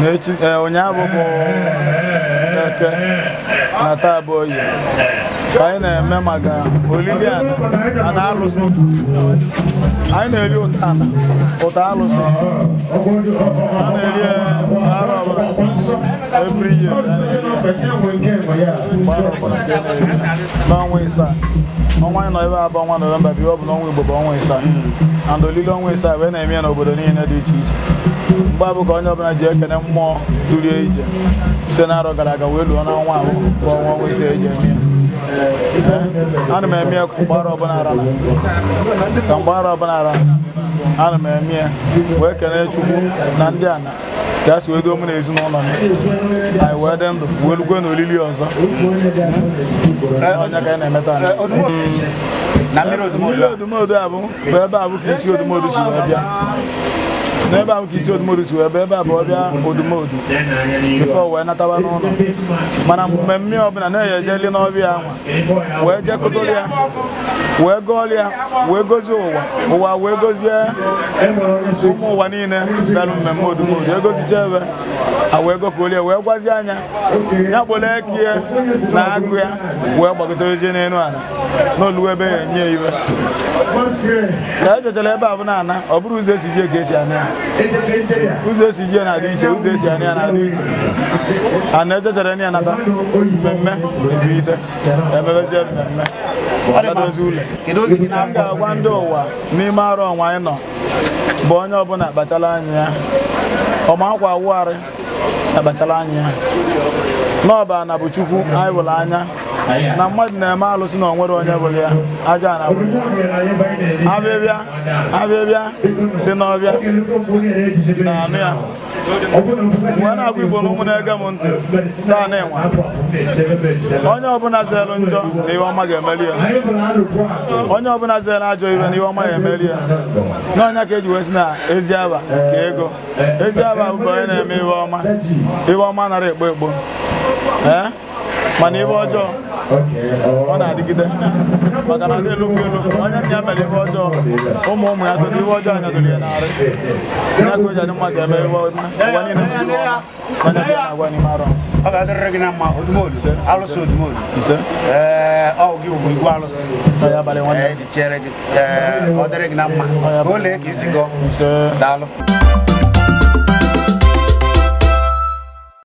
n'echi ee, ụnyaahụ bụ eke na taa bụ oye ka anyị na-eme maka olili ana ana alụsị anyị na-eri ụta ana ụta alụsị a na-eri ya arọ ọbụla every year mgbe arọ ọbụla ka a na-eri n'ọnwa ịsaa ọnwa anyị nọ ebe a bụ ọnwa nọvemba bụ ihe ọ bụ n'ọnwa Igbo bụ ọnwa ịsaa and olili ọnwa ịsaa wee na-eme ya n'obodo niile dị iche iche mgbe ahụ ka onye ọbụla ji ekene mmụọ duru ya ije site n'arọ gara aga wee luo n'ọnwa ahụ bụ ọnwa ọnwa ịsaa eji eme ya ana m eme ya mgbe arọ ọbụla ara na ka mgbe arọ ọbụla ara ana m eme ya wee kene Chukwu na ndị ana ka si wee duo mụ na ezinụlọ m anyị wee dị ndụ wee lukwe na olili ọzọ ọ nya ka anyị na-eme taa anyị na mmiri mmiri odumodu ahụ bụ ebe ahụ ka isi odumodu si wee bịa n'ebe ahụ ka isi odumodu si wee bịa ebe a bụ ọvịa odumodu before o wee natawa n'ụlọ mana mmemme ọbụla na-eje jeli n'ọvịa ahụ wee jekọtara ya wee gọọrọ ya wee gozie ụwa ụwa wee gozie ụmụ ụwa niile bịara mmemme odumodu egozicha ebe a wee gọkọrọ ya wee gwazie ya nya kpọrọ eke ya na agụ ya wee gbagotezie n'elu ala na o lue be ya enye ya ihe ka e jechara ebe ahụ na-ana ọ bụrọ ụzọ esi je ka esi ana ya ụzọ esi je na-adị iche ụzọ esi ana ya na-adị iche a na-ejechara ya nata mmemme ebiite emebezie mmemme adadozi ụlọ m ga-agwa ndị ụwa n'ime arọ ọnwa anyị nọ bụ onye ọbụla kpachara anya ya ọma akwa awụgharị akpachara anya na ọ bụ ana bụ chukwu anyị vụrụ anya na mmadụ na-eme alụ sị na o nwerọ onye vụrụ ya aja na avịvịa avịvịa dị n'ọvịa na-anụ ya m wee na-agwa igbo na ụmụ na-ege m ntị taa na-enwe onye ọbụla zere njọ na ihe ọma ga-emeli ya onye ọbụla zere ajọ ihe na ihe ọma ga-emeli ya na ọ nya ka eji wee sị na ezi ava ka ego ezi ava bụ onye na-eme ihe ọma ihe ọma anara egbo egbo ee mana ihe ọjọọ ọ na-adịgide maka na ndị elufu elufu onye nna ya mere ihe ọjọọ ụmụ ụmụ ya doro ihe ọjọọ anyadoro ya n'arụ ya ka o ji adị mma ga-eme ihe ọma ụwa niile bụ ihe ọma ọ ga-adịrịrị gị na mma odumodu alụsị odumodu ee ọ gị bụ igwe alụsị ee dị chere gị ee ọ dịrị gị na mma ka o lee ka e si gọọ daalụ